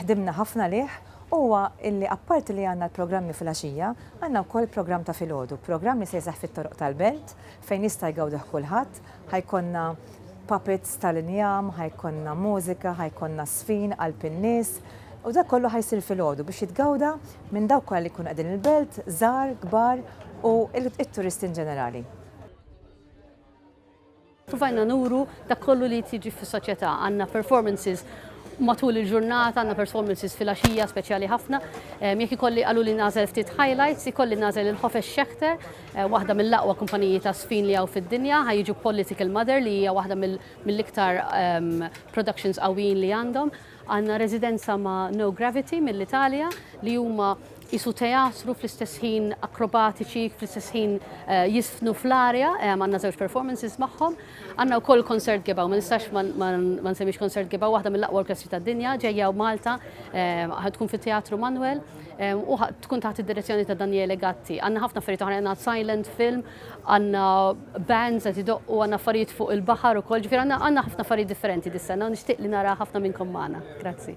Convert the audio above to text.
ħdimna ħafna għalih huwa li apparti li għandna l-programmi fil-għaxija, għandna wkoll programm ta' filgħodu, programm li se jseħħ fit-toroq tal-Belt fejn jista' jgawdih kulħadd, ħa jkollna puppets tal-injam, ħa jkollna mużika, ħa jkollna żfin qalb in-nies, u dak kollu ħa jsir filgħodu biex jitgawda minn dawk kollha li jkunu qegħdin il-Belt, żgħar, kbar u t-turisti inġenerali. Provajna nuru dak kollu li jiġri fis-soċjetà. Għandna performances matul il-ġurnata, għandna performances fil-għaxija speċjali ħafna. Jekk ikolli qaluli nagħżel ftit highlights, ikolli nagħżel il-Hofes Schechter, eh, waħda mill-aqwa kumpaniji ta' sfin li hawn fid-dinja, ħa jiġu Political Mother li hija waħda mill-iktar ehm, productions qawwijin li għandhom. Għandna residenza ma' No Gravity mill-Italja li huma qisu teatru fl-istess ħin akrobatiċi, fl-istess ħin jiżfnu fl-arja, għandna żewġ performances magħhom. Għandna wkoll Concert Gebgħu, ma nistax ma nsemmix Concert Gebgħu, waħda mill-aqwa orkestri tad-dinja ġejja Malta, ħa tkun fit-Teatru Manwel u tkun taħt id-direzzjoni ta' Daniele Gatti. Għandna ħafna affarijiet oħra, għandna silent film, għandna bands qed idoqqu, għandna affarijiet fuq il-baħar ukoll, ġifier għandna għandna ħafna affarijiet differenti dis-sena u nixtieq li nara ħafna minnkom magħna. Grazzi.